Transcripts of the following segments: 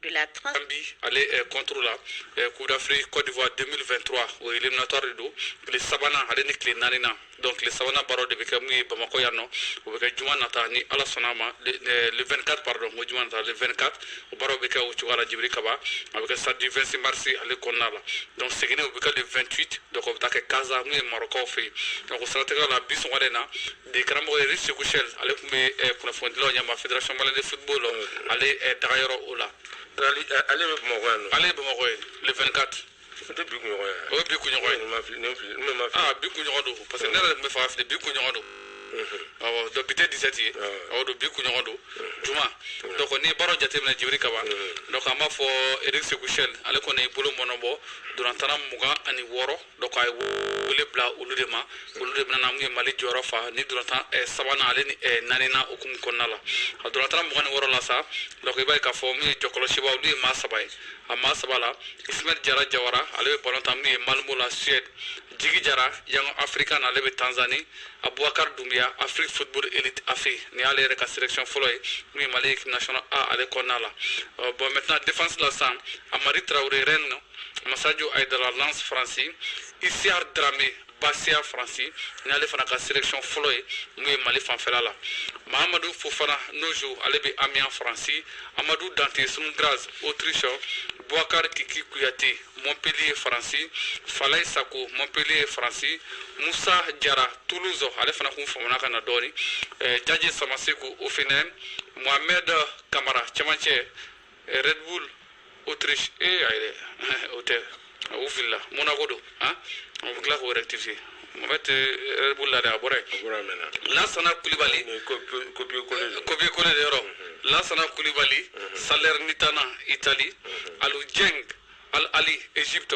de la trans gambie ale eh, contre la eh, coupe d'afrique cote d'ivoire 2023 o ye éliminatoire de don tile sabanan ale ni tile naani na donc tile sabanan baaraw de bɛ kɛ mun ye bamakɔ yan nɔ o bɛ kɛ juma nata ni ala sɔnna a ma le eh, le 24 pardon n ko juma nata le 24 o baaraw bɛ kɛ o cogoya la jibiri kaba o bɛ kɛ stade du 26 mars ale kɔnɔna la donc seginni o bɛ kɛ le 28 donc o bɛ taa kɛ kaza mun ye marɔkaw fɛ yen donc o siratigɛ la bi sɔgɔmada in na degekaramɔgɔ eric segu sel ale tun bɛ eh, kunnafonidilaw ɲɛma fédération malienne de football la ale eh, dagayɔrɔ o la eh, ale bɛ bamakɔ yan ale ye bamakɔ ye le 24 o tɛ bi kunɲɔgɔn ye o ye bi kunɲɔgɔn ye aa bi kunɲɔgɔn don parce que ne yɛrɛ tun bɛ fɛ ka fili bi kunɲɔgɔn don awɔ donc bi tɛ 17 ye awɔ don bi kunɲɔgɔn don juma donc n'i ye baaraw jateminɛ jibiri kaba donc an b'a fɔ eric segu sel ale kɔni ye bolo mɔɔnɔ bɔ dolantanna mugan ani wɔɔrɔ Donc a ye wele bila olu de ma olu de bɛna na mun ye mali jɔyɔrɔ fa ni dolantan eh, sabanan ale ni eh, naani na o hukumu kɔnɔna la a dolantanna mugan ni wɔɔrɔ la sa donc i b'a ye k'a fɔ min ye jɔkɔlɔsibaw olu ye maa saba ye a maa saba la ismail jara jawara ale bɛ balon tan min ye malmö la suède jigi jara young africans ale bɛ tanzanie abubakar dumbiya afrik football elite afe nin y'ale yɛrɛ ka selection fɔlɔ ye min ye mali équipe national a ale kɔnɔna la bon maintenant défense la sa hamari traoré rennes masajo aydara lens faransi isiar drame bastia faransi n'ale fana ka selection fɔlɔ ye mun ye mali fanfɛla la mahamadu fofana nojo ale bɛ amiens faransi amadu dante sturm graz autriche buakar kiki kuyate montpellier faransi falai sako montpellier faransi musa jara toulouse ale fana kun famana ka na dɔɔni eh, jaje samaseku hoffenheim mohamed kamara cɛmancɛ red bull autriche ayi dɛ o tɛ u filila monaco don han u bɛ tila k'o rectifier mɔgɔ tɛ red bull la dɛ a bɔra yen lasana kulibali copier coller de yɔrɔ lasana kulibali salernitana itali alu jeng al ahly egypte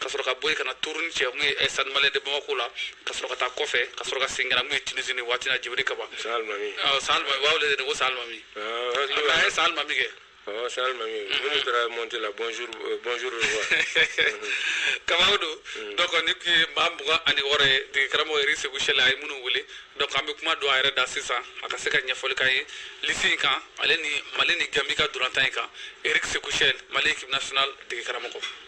ka sɔrɔ ka bɔ yen ka na turin cɛ mun ye stade malien de bamakɔ la ka sɔrɔ ka taa kɔfɛ ka sɔrɔ ka segin ka na mun ye tunisie waati in na jibiri kaba salimami ko salimami a ye salimami kɛ la bonjour kaba don donc nin tun ye maa mugan ani wɔɔrɔ ye degekaramɔgɔ eric segu sel a ye minnu wele donc an bɛ kuma don a yɛrɛ da sisan a ka se ka ɲɛfɔli k'an ye lisi in kan ale ni mali ni gambie ka dolantan in kan eric segu sel mali équipe nationale degekaramɔgɔ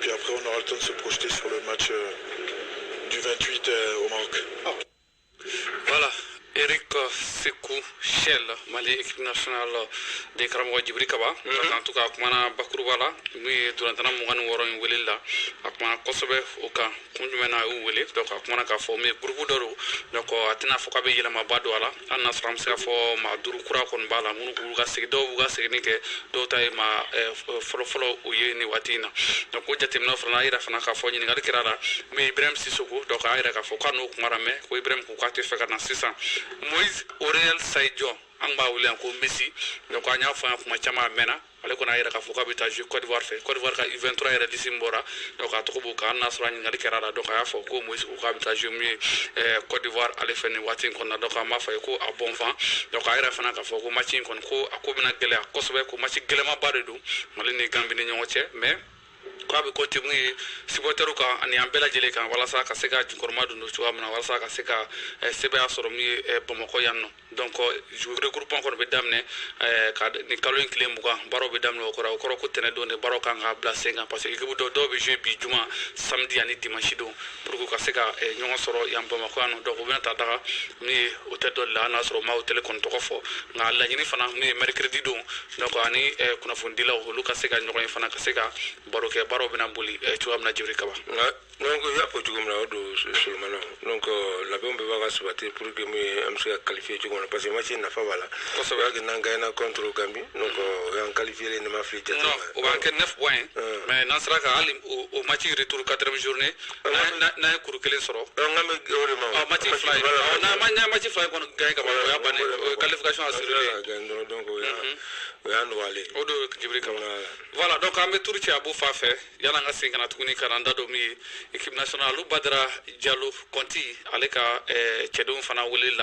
Puis après, on aura le temps de se projeter sur le match euh, du 28 euh, au Maroc. Ah. Voilà. Eric Sekou Chelle, Mali équipe nationale degekaramɔgɔ Djibri Kaba. Mm -hmm. En tout cas, a kumana bakuruba la, mun ye dolantanna mugan ni wɔɔrɔ in wele la, a kumana kosɛbɛ o kan. kun jumɛn na a y'u wele donc a kumana k'a fɔ même groupe dɔ don donc a tɛna fɔ k'a bɛ yɛlɛmaba don a la hali n'a sɔrɔ an bɛ se ka fɔ maa duuru kura kɔni b'a la minnu b'u ka segin dɔw b'u ka seginni kɛ dɔw ta ye maa fɔlɔfɔlɔ u ye nin waati in na donc o jateminɛ fana a yira fana k'a fɔ ɲininkali kɛra a la min ibrahim sisoko donc a yira k'a fɔ k'a n'o kumara mais ko ibrahim ko k'a tɛ fɛ ka na sisan Moise Aurel Sahi Dion an b'a wele yan ko Messi donc an y'a fɔ yan kuma caman a mɛnna ale kɔni a yira k'a fɔ k'a bɛ taa jouer Cote d'Ivoire fɛ Cote d'Ivoire ka U23 yɛrɛ liste min bɔra donc a tɔgɔ b'o kan hali n'a sɔrɔ a ɲininkali kɛra a la donc a y'a fɔ ko Moise ko k'a bɛ taa jouer min ye eh, Cote d'Ivoire ale fɛ nin waati in kɔnɔna donc an b'a fɔ a ye ko a bon vent donc a yira fana k'a fɔ ko match in kɔni ko a ko bɛna gɛlɛya kosɛbɛ ko match gɛlɛmanba de don Mali ni Gambie ni ɲɔgɔn cɛ mais ko a bɛ compter min ye supportɛriw kan ani an bɛɛ lajɛlen kan walasa ka se ka jukɔrɔmadondon cogoya min na walasa ka se ka eh, sebaaya sɔrɔ min ye eh, bamakɔ yan nɔ donc regroupement kɔni bɛ daminɛ eh, ka nin kalo in tile mugan baaraw bɛ daminɛ o kɔrɔ o kɔrɔ ko tɛnɛ don de baaraw kan ka bila sen kan parce que ekipu dɔ dɔw bɛ jouer bi juma samedi ani dimanche don pour que u ka se ka eh, ɲɔgɔn sɔrɔ yan bamakɔ yan nɔ donc u bɛna taa daga min ye hôtel dɔ la hali n'a sɔrɔ u ma hôtel kɔni tɔgɔ fɔ nka laɲini fana min ye mercredi don donc ani eh, kunnafonidilaw olu ka se ka ɲɔgɔn ye fana ka se ka baro kɛ baaraw bɛna boli cogoya min na jibiri kaba donc y'a fɔ cogo min na o don solomana donc labɛnw bɛɛ b'a ka sabati pour que min ye an bɛ se ka qualifier cogo min na parce que match nafa b'a la kosɛbɛ parce que n'an gagnera contre Gambie donc o y'an qualifierlen ne ma fili jate non o b'an kɛ 9 points mais n'an sera ka hali o o match retour 4e journée n'an ye kuru kelen sɔrɔ nka mais vraiment match fila in n'an ma n'an match fila in kɔni gagner ka ban o y'a bannen o ye qualification assurée ye gagner dɔrɔn donc o y'a o y'a nɔgɔyalen o don jibiri kaba voilà donc an bɛ tour kɛ a b'o fan fɛ yan nka sen ka tuguni ka da dɔ min ye équipe nationale alu badara jalo kɔnti ale ka cɛdenw fana wele la